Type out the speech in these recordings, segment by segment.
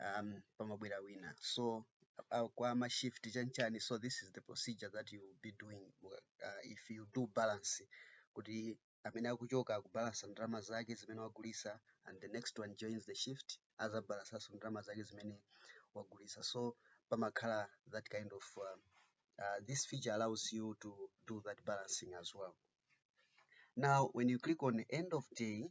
um, pamabwera wina so uh, kwa ma shift chanchani so this is the procedure that you will be doing uh, if you do balance kuti amene akuchoka akubalansa ndalama zake zimene wagulitsa and the next one joins the shift azabalansanso ndalama zake zimene wagulitsa so pamakhala that kind of uh, uh, this feature allows you to do that balancing as well now when you click on end of day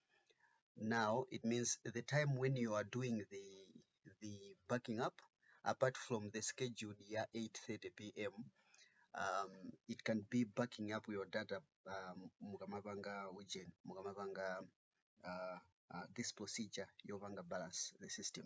Now it means the time when you are doing the the backing up apart from the scheduled ya 8:30 pm um, it can be backing up your data um, mukamapanga ujeni mukamapanga uh, uh, this procedure yopanga balance the system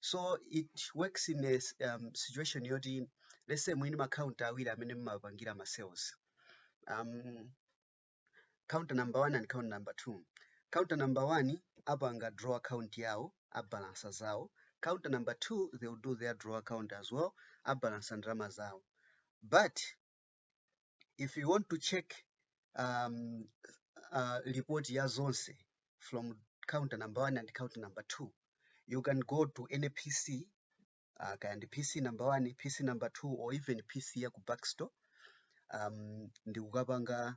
so it works in a s- um, situation yoti let's say mwini macounta awiri amene mumapangira ma sales um, counter number one and counter number two counter number one apanga draw account yawo abalansa zawo counter number two they will do their draw account as well abalansa ndalama zawo but if you want to check um, uh, report ya zonse from counter number one and counter number two you can go to any pc uh, kaya ndi pc number one pc number two or even pc ya ku backstore um, ndi kukapanga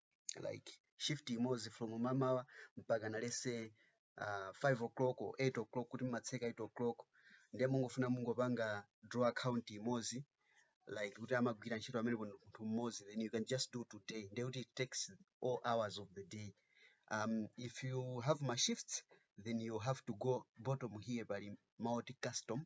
like shift imodzi from mamawa mpakana let's say uh, 5 o'clock or 8 o'clock kuti mumatseka 8 o'clock ndiye mungofuna mungopanga draw account imodzi like kuti amagwira ntchito amene ndi munthu mmodzi then you can just do today ndiye kuti it takes all hours of the day um, if you have ma shifts then you have to go bottom here pali multi custom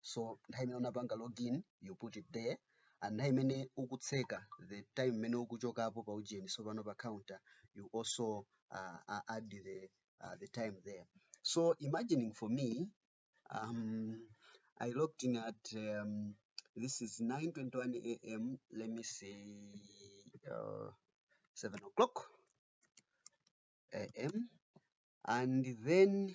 so nthawi imene unapanga login you put it there and nthawi imene ukutseka the time imene ukuchokapo pa ujeni sopano pa counter you also uh, uh, add the, uh, the time there so imagining for me um, i looked in at um, this is 9.21 am let me see uh, 7 o'clock am and then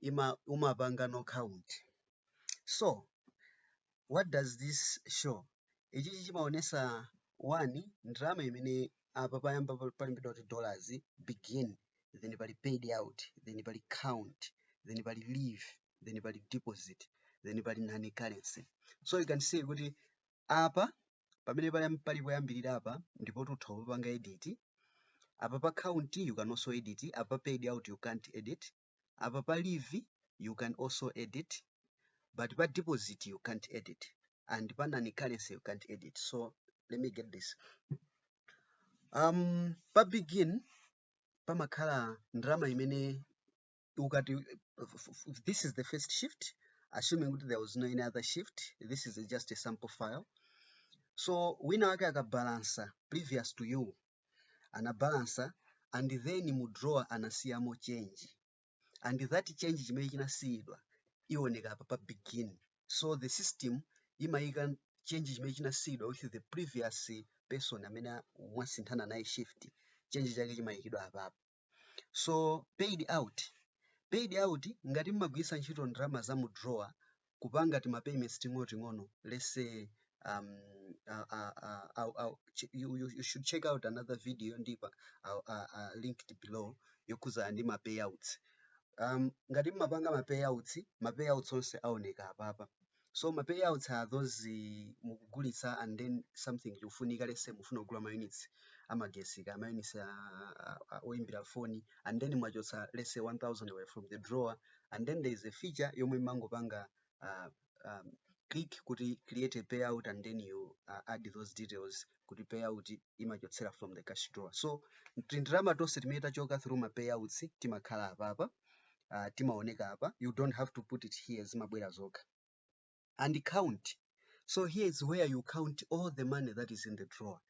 ima umapanga no count so what does this show ichichi chimaonesa one ndalama imene apa payamba pa- palembedwa kuti dollars begin then pali paid out then pali count then pali leave then pali deposit then pali nani currency so you can see kuti apa pamene pali pali poyambirira apa ndipo tutha kupanga edit apa pa count you can also edit apa paid out you can't edit apa pa leave you can also edit but pa deposit you can't edit and pa nani currency you can't edit so let me get this um pa begin pamakhala ndalama imene ukati this is the first shift assuming kuti there was no any other shift this is just a sample file so wina wake akabalansa previous to you anabalansa and then mu drawer anasiyamo change and that change chimene chinasiyidwa iwoneka apa pa begin so the system imayika change chimene chinasiyidwa with the previous person amene mwasinthana naye shift change chake chimayikidwa apapo so paid out paid out ngati mmagwiritsa ntchito ndalama za mu drawer kupanga tima payments ting'onoting'ono let's say um, uh, uh, uh, I'll, I'll, ch- you, you, you should check out another video ndipo I'll, uh, uh, linked below yokhudzana ndi ma payouts um, ngati mmapanga ma payouts ma payouts onse aoneka apapa so ma payouts are those eh, mukugulitsa and then something chikufunika let's say mufuna kugula ma units amagetsi kaya ma units a- a- a- oyimbira foni and then mwachotsa let's say 1000 away from the drawer and then there is a feature yomwe mumangopanga uh, um, click kuti create a payout and then you uh, add those details kuti payout imachotsera from the cash drawer so tindalama tonse timene tachoka through ma payouts timakhala apapa uh, timaoneka apa you don't have to put it here zimabwera zokha and count so here is where you count all the money that is in the drawer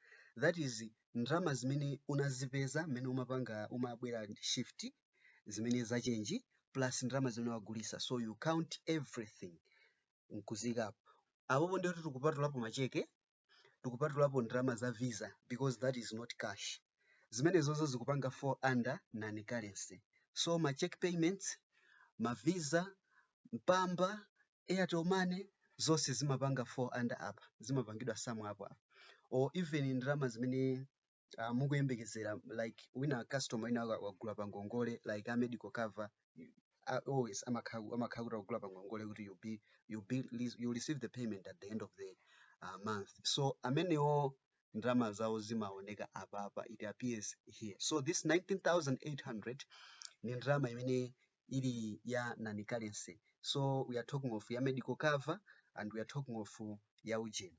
that is ndalama zimene unazipeza mmene umapanga umabwera shift zimene zachenji plus ndalama zimene wagulitsa so you count everything nkuziikapo apopo ndiye kuti tikupatulapo macheke tikupatulapo ndalama za visa because that is not cash zimenezozo zikupanga fall under non currency so ma check payments ma visa mpamba airtel money zonse zimapanga fall under apa zimapangidwa sum up apa or even ndalama zimene uh, mukuyembekezera like wina customer wina wa- wagula pa ngongole like a medical cover you- a- always amakhala amakhala kuti akugula pa ngongole kuti you be you be you receive the payment at the end of the uh, month so amenewo ndalama zawo zimaoneka apapa it appears here so this 19800 ni ndalama imene ili ya non currency so we are talking of ya medical cover and we are talking of uh, ya ujeni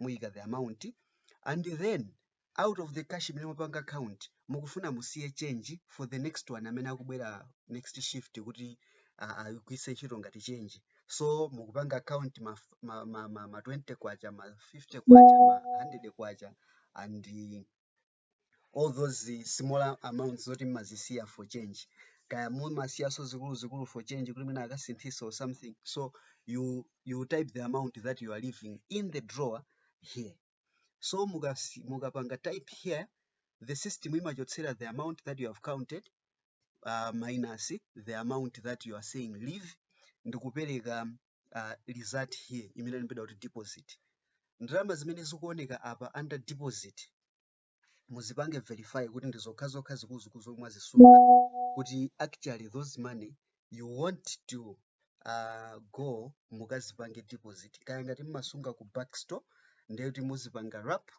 muyika the amount and then out of the cash imene mupanga count mukufuna musiye change for the next one amene akubwera next shift kuti uh, ayigwise ntchito ngati change so mukupanga count ma, f- ma, ma, ma, ma 20 kwacha ma 50 kwacha ma 100 kwacha and all those eh, smaller amounts zoti mmazisiya for change kaya mumasiyaso zikuluzikulu for change kuti mwina akasinthisa or something so you, you type the amount that you are leaving in the drawer here so mukasi- mukapanga type here the system imachotsera the amount that you have counted uh, minus the amount that you are saying leave ndikupereka uh, result here imene ilembedwa kuti deposit ndalama zimene zikuoneka apa under deposit muzipange verify kuti ndi zokha zokha zikuluzikulu zomwe mwazisunga kuti actually those money you want to uh, go mukazipange deposit kaya ngati mmasunga ku backstore ndiye kuti muzipanga wrap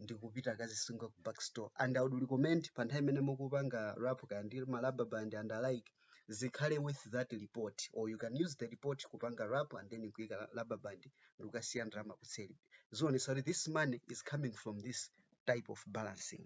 ndikupita kazisunga ku backstore and i would recommend pa nthawi imene mukupanga wrap kaya ndi ma rubber band and alike zikhale with that report or you can use the report kupanga wrap and then kuika rubber band ndikukasiya ndalama kuseri zionesa kuti this money is coming from this type of balancing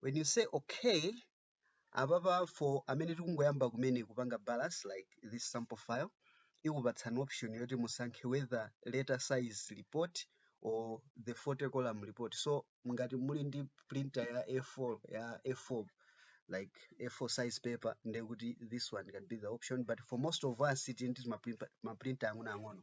when you say okay apapa for amene tikungoyamba kumene kupanga balance like this sample file ikupatsani option yoti musankhe whether letter size report or the 40 column report so ngati muli ndi printer ya a4 ya a4 like a4 size paper ndekuti this one can be the option but for most of us tili ndi maprinta ang'onoang'ono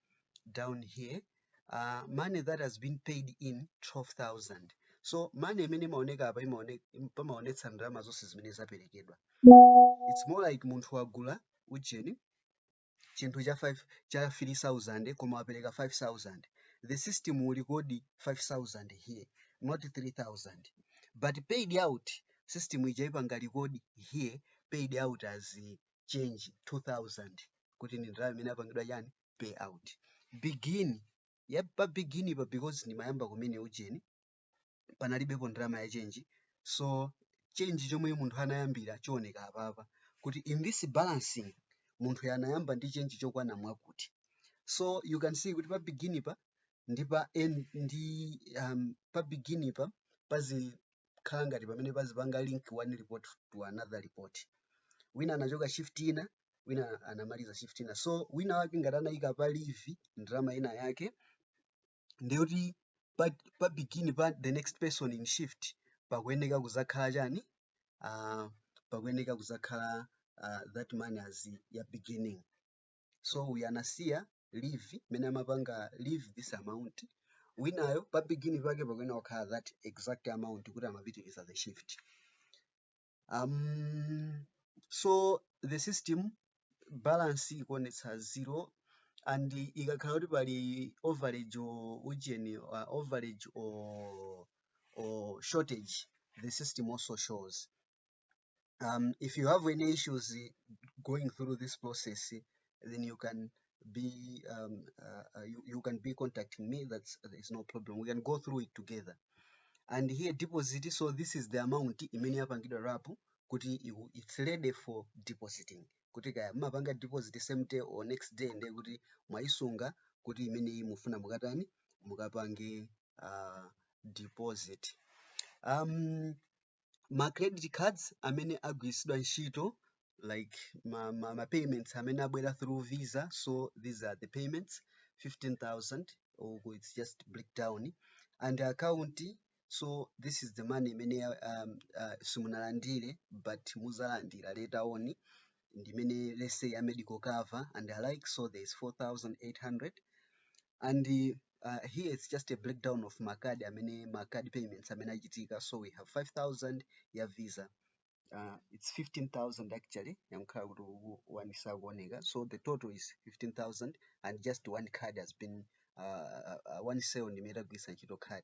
down here uh, money that has been paid in 12000 so money imene imaoneka apa imaone- im- pamaonetsa ndalama zonse zimene zaperekedwa it's more like munthu wagula ujeni chinthu cha 5 cha 3000 koma wapereka 5000 the system will record 5000 here not 3000 but paid out system ija iyipanga record here paid out as change 2000 kuti ndi ndalama imene apangidwa chani pay out begin ya pa begin pa because ndimayamba kumene ujeni panalibepo ndalama ya change so change chomwe munthu anayambira chioneka apapa kuti in this balancing munthu uyu anayamba ndi change chokwana mwakuti so you can see kuti pa begin pa ndi pa end ndi um, pa begin pa pazi pazikhala ngati pamene pazipanga link one report to another report wina anachoka shift ina wina anamaliza shift ina so wina wake ngati anayika pa leave ndalama ina yake ndiye kuti pa, pa begin pa the next person in shift pakuyeneka kuzakhala chani uh, pakuyeneka kuzakhala uh, that money as ya beginning so uyu anasiya leave mene amapanga leave this amount winayo pa beginning pake pakuyeneka kukhala that exact amount kuti amapitiriza the shift um, so the system balance ikuonetsa zero and ikakhala kuti pali overage or ujeni uh, overage or, or shortage the system also shows Um, if you have any issues eh, going through this process, eh, then you can be um, uh, uh, you, you can be contacting me. That's there's no problem. We can go through it together. And here deposit. So this is the amount imene yapangidwa wrap kuti iku- it's ready for depositing. Kuti kaya mumapanga deposit same day or next day ndiye kuti mwayisunga kuti imeneyi mufuna mukatani mukapange uh, deposit. Um, ma credit cards amene agwiritsidwa ntchito like ma, ma, ma payments amene abwera through visa so these are the payments 15000 or it's just break down and account so this is the money imene um, uh, simunalandire but muzalandira later on ndimene let's say a medical cover and alike so there is 4800 and uh, Uh, here it's just a breakdown of ma card amene ma card payments amene achitika so we have 5000 ya visa uh, it's 15000 actually yangokhala kuti one sakuoneka so the total is 15000 and just one card has been uh, uh, one sale ndimene tagwiritsa ntchito card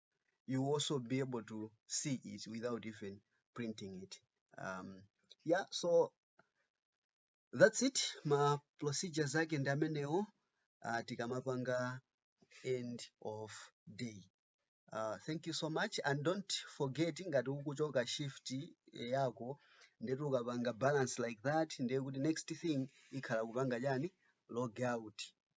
you also be able to see it without even printing it um, yeah so that's it ma procedures ake ndi amenewo uh, tikamapanga end of day uh, thank you so much and don't forget ngati ukuchoka shift yako ndeti ukapanga balance like that ndiye kuti next thing ikhala kupanga chani log out